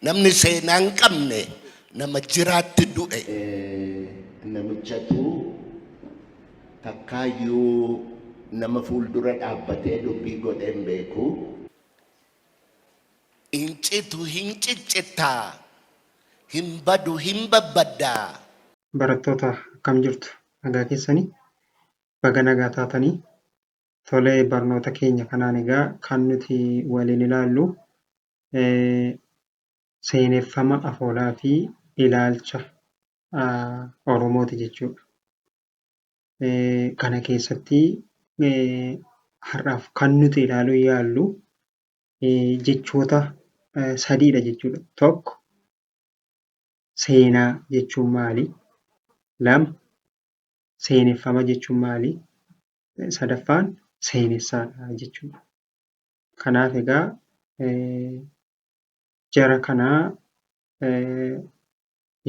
Namni seenaa hin qabne nama jiraatti du'e. Namichatu takkaayyuu nama fuuldura dhaabbatee dubbii godhee hin beeku. Hin citu hin ciccitta, hin badu hin babbadda. Barattoota akkam jirtu? Nagaa keessani? Baga nagaa taatanii. Tole barnoota keenya kanaan egaa kan nuti waliin ilaallu seeneffama afoolaa fi ilaalcha Oromooti jechuudha. Kana keessatti har'aaf kan nuti ilaaluu yaallu jechoota sadiidha jechuudha. Tokko seenaa jechuun maali? Lama seeneffama jechuun maali? Sadaffaan seenessaadha jechuudha. Kanaaf egaa jara kana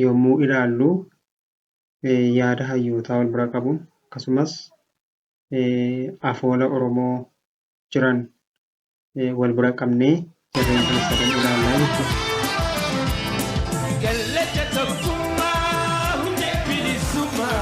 yommuu ilaallu yaada hayyootaa wal bira qabuun akkasumas afoola Oromoo jiran wal bira qabnee jarreen kana sadan ilaallaa jechuudha. Gallacha tokkummaa hundee bilisummaa.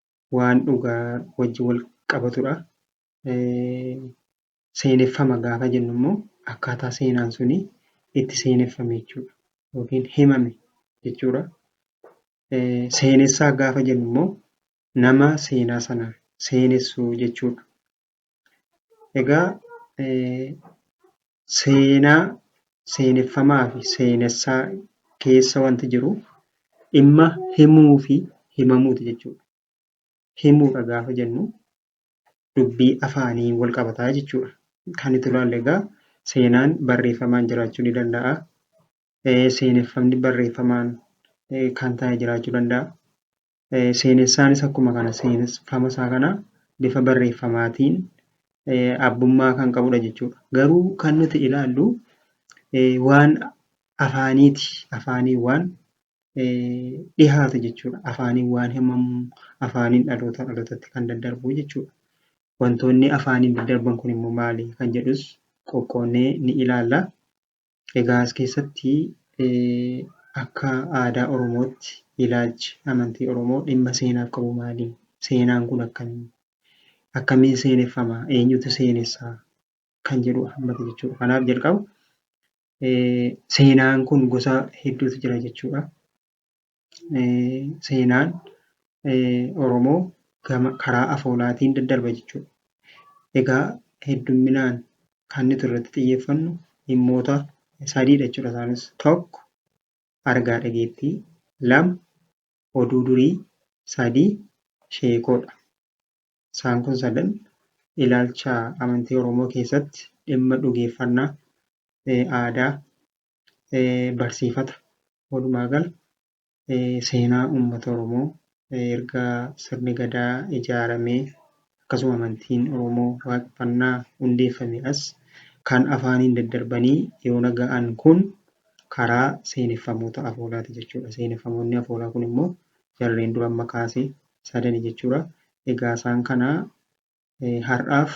waan dhugaa wajjin wal qabatudha. Seeneffama gaafa jennu immoo akkaataa seenaan suni itti seeneffame jechuudha. Yookiin himame jechuudha. Seenessaa gaafa jennu immoo nama seenaa sana seenessu jechuudha. Egaa seenaa seeneffamaa fi seenessaa keessa wanti jiru dhimma himuu fi himamuuti jechuudha. Himuudha gaafa jennu dubbii afaanii wal qabataa jechuudha. Kan itti ilaalle egaa seenaan barreeffamaan jiraachuu ni danda'a. Seeneffamni barreeffamaan kan taa'e jiraachuu danda'a. Seenessaanis akkuma kana seeneffama isaa kana bifa barreeffamaatiin abbummaa kan qabudha jechuudha. Garuu kan nuti ilaallu waan afaaniiti. Afaaniin waan dhihaatu jechuudha. Afaaniin waan himamu, afaaniin dhaloota dhalootatti kan daddarbu jechuudha. Wantoonni afaaniin daddarban kun immoo maali kan jedhus qoqqoonnee ni ilaalla. Egaa as keessatti akka aadaa Oromootti ilaalchi amantii Oromoo dhimma seenaaf qabu maali? Seenaan kun akkami? Akkamiin seeneffama? Eenyutu seenessa? Kan jedhu hammata jechuudha. Kanaaf jalqaba seenaan kun gosa hedduutu jira jechuudha. seenaan Oromoo gama karaa afoolaatiin daddarba jechuudha. Egaa heddumminaan kan nuti irratti xiyyeeffannu dhimmoota sadiidha jechuudha isaanis. Tokko argaa dhageettii, lama oduu durii, sadii sheekoodha. Isaan kun sadan ilaalcha amantii Oromoo keessatti dhimma dhugeeffannaa, aadaa, barsiifata. Walumaa gala seenaa uummata Oromoo erga sirni gadaa ijaaramee akkasuma amantiin Oromoo waaqeffannaa hundeeffame as kan afaaniin daddarbanii yoona ga'an kun karaa seeneffamoota afoolaati jechuudha. Seeneffamoonni afoolaa kun immoo jarreen dura amma kaase sadani jechuudha. Egaa isaan kana har'aaf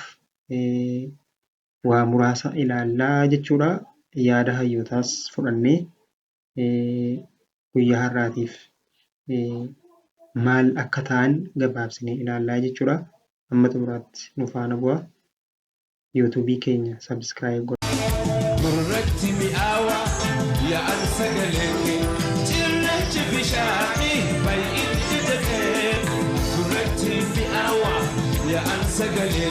waa muraasa ilaalla jechuudha. Yaada hayyootaas fudhannee guyyaa har'aatiif maal akka ta'an gabaabsinee ilaallaa jechuudha. Amma xumuraatti nu faana bu'a. Yuutuubii keenya sabiskiraayib godha. Gurratti mi'aawa yaa'an sagalee kee cirrachi bishaanii baay'inni jedhee gurratti mi'aawa yaa'an sagalee.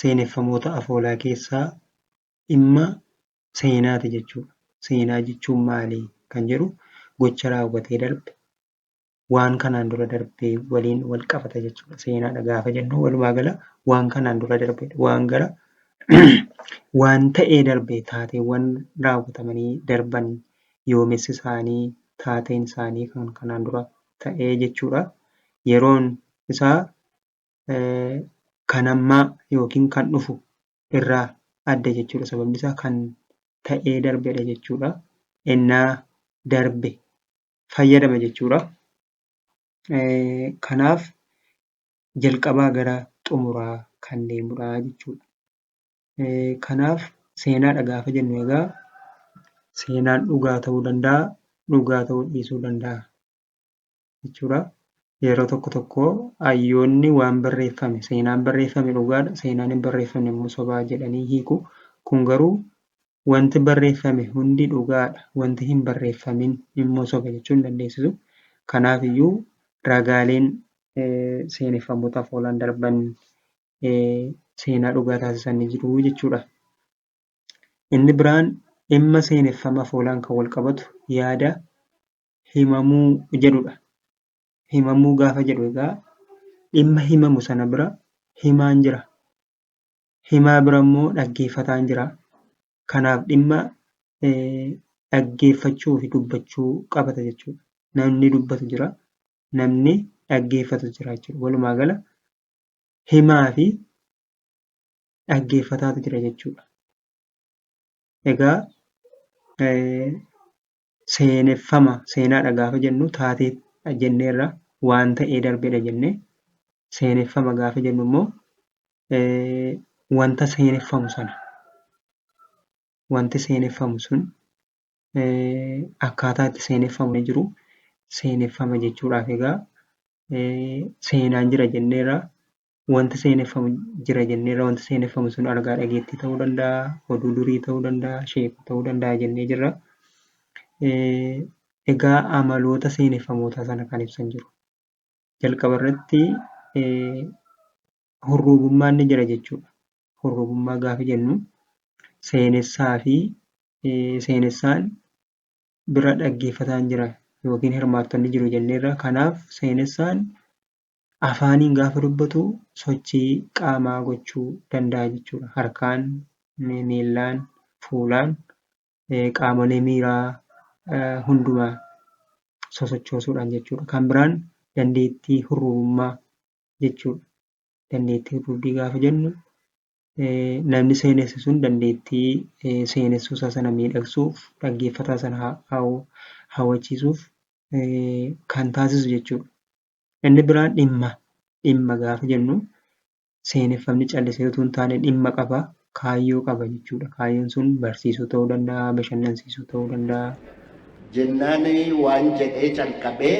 seeneffamoota afoolaa keessaa dhimma seenaati jechuudha. Seenaa jechuun maali kan jedhu gocha raawwatee darbe waan kanaan dura darbe waliin wal qabata jechuudha. Seenaadha gaafa jennu walumaa gala waan kanaan dura darbe waan gara waan ta'ee darbe taateewwan raawwatamanii darban yoomessi isaanii taateen isaanii kan kanaan dura ta'ee jechuudha. Yeroon isaa kan ammaa yookiin kan dhufu irraa adda jechuudha. Sababni isaa kan ta'ee darbedha jechuudha. Ennaa darbe fayyadama jechuudha. Kanaaf jalqabaa gara xumuraa kan deemudha jechuudha. Kanaaf seenaadha gaafa jennu egaa seenaan dhugaa ta'uu danda'a, dhugaa ta'uu dhiisuu danda'a. jechuudha. Yeroo tokko tokko hayyoonni waan barreeffame seenaan barreeffame dhugaadha seenaan hin barreeffamne immoo sobaa jedhanii hiiku. Kun garuu wanti barreeffame hundi dhugaadha wanti hin barreeffamin immoo soba jechuu hin dandeessisu. Kanaaf iyyuu ragaaleen seeneffamoota afoolaan darban seenaa dhugaa taasisan ni jiru jechuudha. Inni biraan dhimma seeneffama afoolaan kan wal qabatu yaada himamuu jedhudha. Himamuu gaafa jedhu egaa dhimma himamu sana bira himaan jira. Himaa bira immoo dhaggeeffataan jira. Kanaaf dhimma dhaggeeffachuu fi dubbachuu qabata jechuudha. Namni dubbatu jira, namni dhaggeeffatu jira jechuudha. Walumaa gala himaa fi dhaggeeffataatu jira jechuudha. Egaa Seeneffama, seenaadha gaafa jennu taateedha jenneerra, waan ta'ee darbedha jenne. Seeneffama gaafa jennu immoo wanta seeneffamu sana, wanti seeneffamu sun akkaataa itti seeneffamu ni jiru. Seeneffama jechuudhaaf egaa seenaan jira jenneerra, wanta seeneffamu jira jenneerra wanta seeneffamu sun argaa dhageettii ta'uu danda'a oduu durii ta'uu danda'a sheeka ta'uu danda'a jennee jirra egaa amaloota seeneffamootaa sana kan ibsan jiru jalqaba irratti hurruubummaan ni jira jechuudha hurruubummaa gaafa jennu seenessaa fi seenessaan bira dhaggeeffataan jira yookiin hirmaattonni jiru jenneerra kanaaf seenessaan afaaniin gaafa dubbatu sochii qaamaa gochuu danda'a jechuudha. Harkaan, miillaan, fuulaan qaamolee miiraa hundumaa sosochoosuudhaan jechuudha. Kan biraan dandeettii hurrubummaa jechuudha. Dandeettii hurrubbii gaafa jennu namni seenessu sun dandeettii seenessuu isaa sana miidhagsuuf dhaggeeffataa sana hawwachiisuuf kan taasisu jechuudha. Inni biraan dhimma. Dhimma gaafa jennu seeneffamni callisee utuu hin taane dhimma qaba, kaayyoo qaba jechuudha. Kaayyoon sun barsiisuu ta'uu danda'a, bashannansiisuu ta'uu danda'a. Jennaan waan jedhee calqabee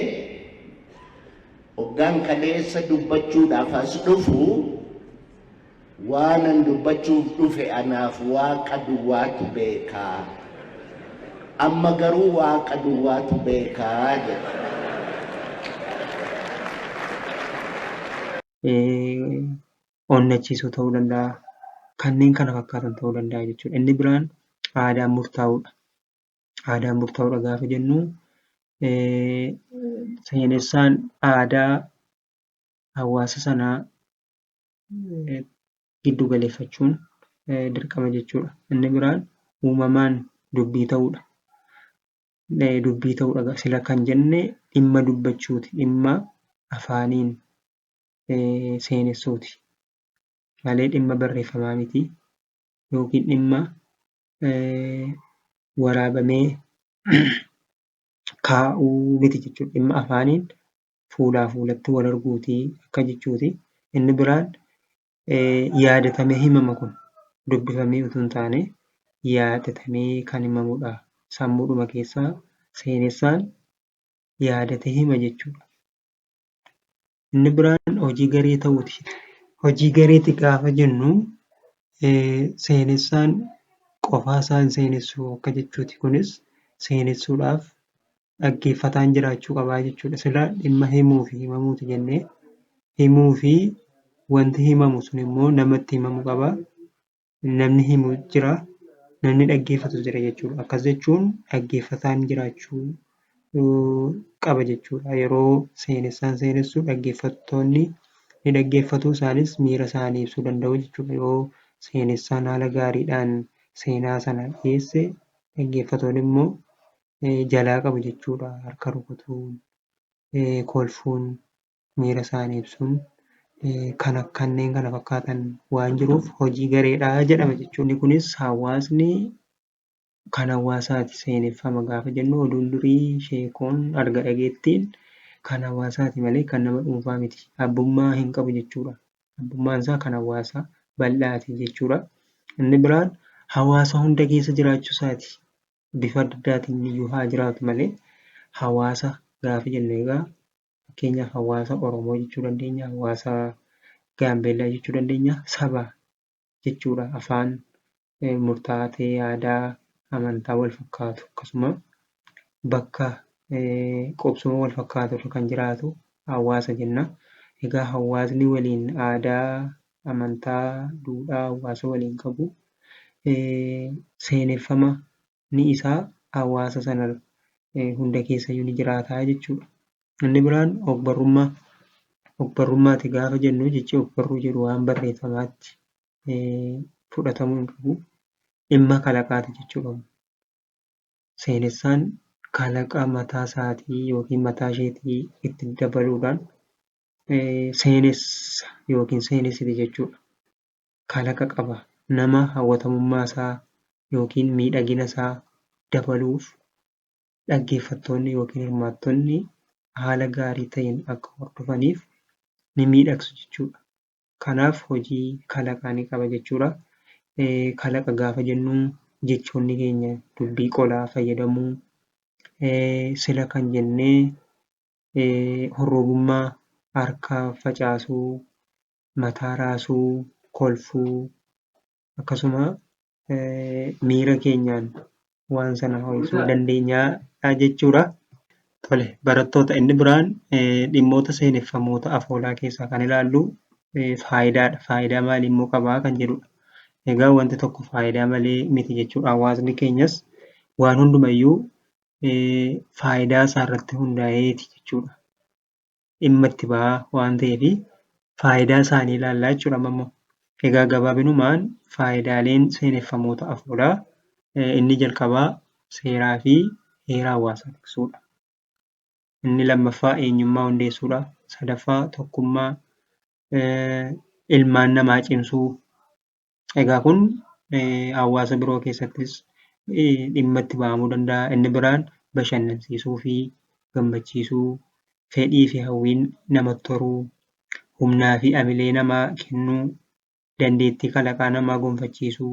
hoggaan kaleessa dubbachuudhaaf as dhufu. Waanan dubbachuuf dhufe anaaf Waaqa duwwaatu beeka. Amma garuu Waaqa duwwaatu beeka jedhe. onnachiisuu ta'uu danda'a. Kanneen kana fakkaatan ta'uu danda'a jechuudha. Inni biraan aadaan murtaa'uudha. Aadaan murtaa'uudha gaafa jennu seenessaan aadaa hawaasa sanaa giddu galeeffachuun dirqama jechuudha. Inni biraan uumamaan dubbii ta'uudha. Dubbii ta'uudha sila kan jenne dhimma dubbachuuti dhimma afaaniin seenessuuti malee dhimma barreeffamaa miti yookiin dhimma waraabamee kaa'uu miti jechuudha. Dhimma afaaniin fuulaa fuulatti wal arguuti akka jechuuti. Inni biraan yaadatamee himama kun dubbifamee utuu hin taane yaadatamee kan himamudha. Sammuudhuma keessaa seenessaan yaadatee hima jechuudha. Inni biraan hojii garee ta'uuti. Hojii gareeti gaafa jennu seenessaan qofaa isaa hin seenessu akka jechuuti. Kunis seenessuudhaaf dhaggeeffataan jiraachuu qabaa jechuudha. Sila dhimma himuu fi himamuuti jennee himuu fi wanti himamu sun immoo namatti himamu qaba. Namni himu jira, namni dhaggeeffatu jira jechuudha. Akkas jechuun dhaggeeffataan jiraachuu qaba jechuudha. Yeroo seenessaan seenessu dhaggeeffattoonni ni dhaggeeffatu isaanis miira isaanii ibsuu danda'u jechuudha. Yoo seenessaan haala gaariidhaan seenaa sana dhiyeesse dhaggeeffatoonni immoo jalaa qabu jechuudha. Harka rukutuun, kolfuun, miira isaanii ibsuun kan kanneen kana fakkaatan waan jiruuf hojii gareedha jedhama jechuudha. Inni kunis hawaasni kan hawaasaati seeneffama gaafa jennu oduun durii sheekoon arga dhageettiin kan hawaasaati malee kan nama dhuunfaa miti. Abbummaa hin qabu jechuudha. Abbummaan isaa kan hawaasaa bal'aati jechuudha. Inni biraan hawaasa hunda keessa jiraachuu isaati. bifa adda addaatiin iyyuu haa jiraatu malee hawaasa gaafa jennu egaa fakkeenyaaf hawaasa Oromoo jechuu dandeenya, hawaasa Gaambeellaa jechuu dandeenya, saba jechuudha. Afaan eh, murtaa'aa ta'e, aadaa, amantaa wal fakkaatu akkasuma bakka eh, qubsuma wal fakkaatu irra kan jiraatu hawaasa jenna. Egaa hawaasni waliin aadaa, amantaa, duudhaa hawaasa waliin qabu, seeneffama ni isaa hawaasa sana hunda keessayyuu ni jiraataa jechuudha. Inni biraan ogbarrummaa. Ogbarrummaati gaafa jennu jechi ogbarruu jedhu waan barreeffamaatti fudhatamuu hin qabu. Dhimma kalaqaati jechuudha. Seenessaan kalaqa mataa isaatii yookiin mataa isheetii itti dabaluudhaan seenessa yookiin seenessite jechuudha. Kalaqa qaba. Nama hawwatamummaa isaa yookiin miidhagina isaa dabaluuf dhaggeeffattoonni yookiin hirmaattonni haala gaarii ta'een akka hordofaniif ni miidhagsu jechuudha. Kanaaf hojii kalaqaa ni qaba jechuudha. Kalaqa gaafa jennu jechoonni keenya dubbii qolaa fayyadamuu sila kan jennee horroobummaa, harka facaasuu, mataa raasuu, kolfuu akkasuma miira keenyaan waan sana ho'isuu dandeenya jechuudha. Tole barattoota inni biraan dhimmoota seeneffamoota afoolaa keessaa kan ilaallu faayidaadha. Faayidaa maalii immoo qabaa kan jedhudha. Egaa wanti tokko faayidaa malee miti jechuudha. Hawaasni keenyas waan hundumayyuu faayidaa isaa irratti hundaa'eeti jechuudha. Dhimma itti bahaa waan ta'eef faayidaa isaanii ilaallaa jechuudha amma immoo. Egaa gabaabinumaan faayidaaleen seeneffamoota afuuraa inni jalqabaa seeraa fi heera hawaasaa tiksuudha. Inni lammaffaa eenyummaa hundeessuudha. Sadaffaa tokkummaa ilmaan namaa cimsuu Egaa kun hawaasa biroo keessattis dhimma itti ba'amuu danda'a. Inni biraan bashannansiisuu fi gammachiisuu, fedhii fi hawwiin namatti horuu, humnaa fi amilee namaa kennuu, dandeettii kalaqaa namaa gonfachiisuu,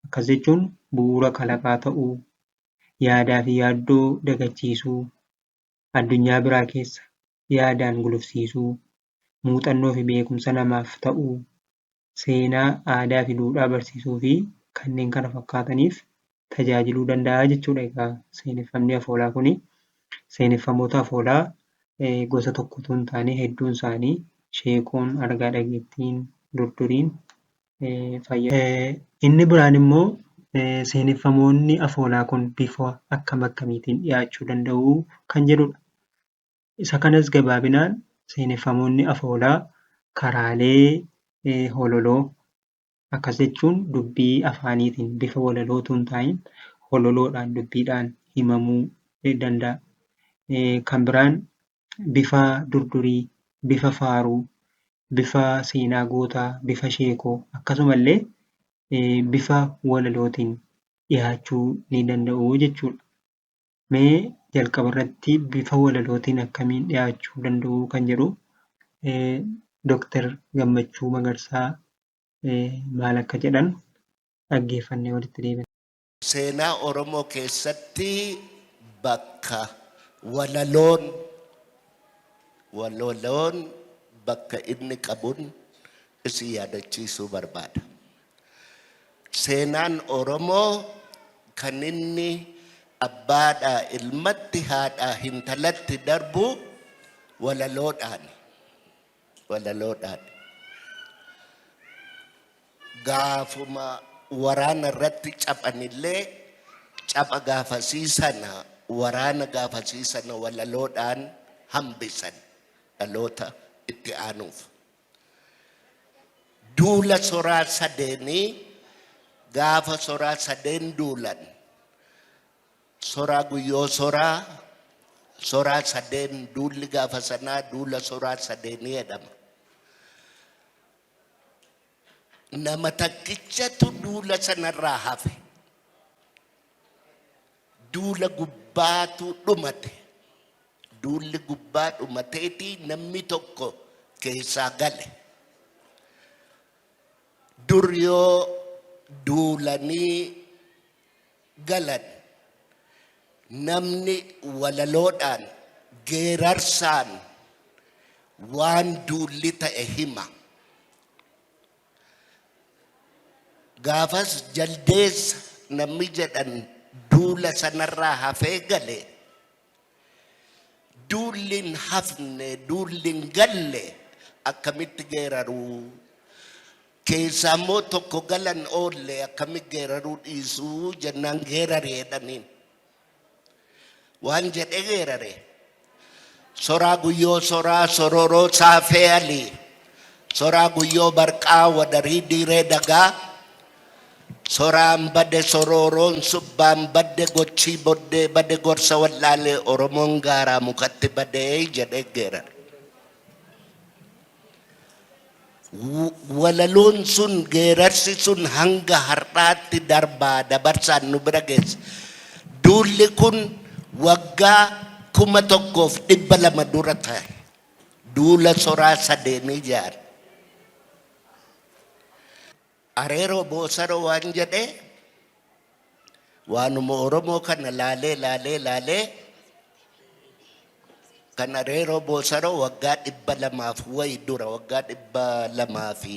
akkas jechuun bu'uura kalaqaa ta'uu, yaadaa fi yaaddoo dagachiisuu, addunyaa biraa keessa yaadaan gulufsiisuu, muuxannoo fi beekumsa namaaf ta'uu, seenaa, aadaa fi duudhaa barsiisuu fi kanneen kana fakkaataniif tajaajiluu danda'a jechuudha egaa seeneffamni afoolaa kuni. Seeneffamoota afoolaa gosa tokko utuu hin taane hedduun isaanii sheekoon, argaa dhageettiin, durduriin fayyadamu. Inni biraan immoo seeneffamoonni afoolaa kun bifa akkam akkamiitiin dhiyaachuu danda'u kan jedhudha. Isa kanas gabaabinaan seeneffamoonni afoolaa karaalee hololoo akkas jechuun dubbii afaaniitiin bifa walaloo utuu hin taa'in hololoodhaan dubbiidhaan himamuu danda'a. Kan biraan bifa durdurii, bifa faaruu, bifa seenaa gootaa, bifa sheekoo akkasumallee bifa walalootiin dhiyaachuu ni danda'u jechuudha. Mee jalqaba irratti bifa walalootiin akkamiin dhiyaachuu danda'u kan jedhu Dooktar Gammachuu Magarsaa maal akka jedhan dhaggeeffannee walitti deebina. Seenaa Oromoo keessatti bakka walaloon walaloon bakka inni qabun isin yaadachiisuu barbaada. Seenaan Oromoo kan inni abbaadhaa ilmatti haadhaa hintalatti darbu walaloodhaani. Walaloodhaani. Gaafuma waraana irratti caphanillee capha gaafasii sana waraana gaafasii sana walaloodhaan hambisan dhaloota itti aanuuf. Duula soraa sadeenii gaafa soraa sadeen duulan soraa guyyoo soraa soraa sadeen duulli gaafa sanaa duula soraa sadeenii jedhama. Nama takkichatu duula sanarraa hafe. Duula gubbaatu dhumate. Duulli gubbaa dhumateeti namni tokko keessaa gale. Dur yoo duulanii galan namni walaloodhaan geerarsaan waan duulli ta'e hima. Gaafas jaldeessa namni jedhan duula sanarraa hafee gale. Duulli hin hafne, duulli hin galle akkamitti geeraruu? Keessaa immoo tokko galan oolle akkamitti geeraruu dhiisuu jennaan geerari jedhaniin. Waan jedhee geerare. Soraa guyyoo soraa sororoo saafee alii. Soraa guyyoo barqaa wadarii diiree dagaa. Soraan bade sorooroon subbaan badde gochii boddee bade gorsa wal'aalee Oromoon gaaraa mukatti badee jedhee geerare. walaloon sun geerarsi sun hanga har'aatti darbaa dabarsaan nu bira geesse. Duulli kun waggaa kuma tokkoof dhibba lama dura ta'e. Duula soraa sadeenii jaare. Areeroo Boosaroo waan jedhe waanuma Oromoo kana laalee laalee laalee kan Areeroo Boosaroo waggaa dhibba lamaaf wayi dura waggaa dhibba lamaa fi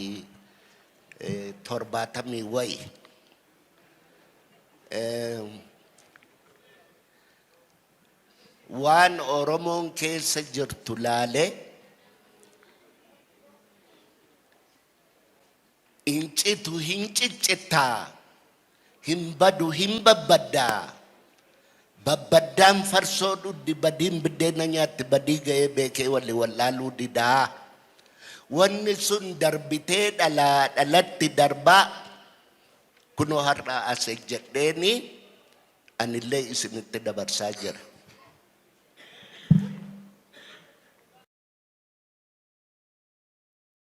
torbaatamii wayi. Waan Oromoon keessa jirtu laalee Hin citu hin ciccitta, hin badu hin babbadda. Babbaddaan farsoo dhuddi, badiin biddeena nyaatti, badii ga'ee beekee wali wal'aaluu dida. Wanni sun darbitee dhalaa dhalatti darba. Kunoo har'a as ejjedheeni anillee isinitti dabarsaa jira.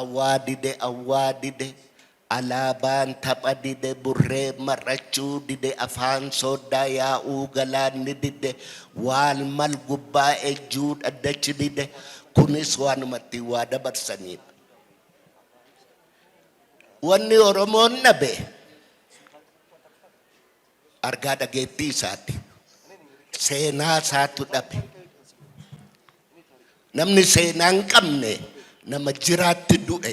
Awwaa dide awwaa dide alaabaan tapha dide burree mar'achuu dide afaan sooddaa yaa'uu galaanni dide waal mal gubbaa ejjuu dhaddachi dide kunis waanumatti waa dabarsaniidha. Wanni Oromoon dhabe argaa dhageettii isaati. Seenaa isaatu dhabe. Namni seenaa hin qabne nama jiraatti du'e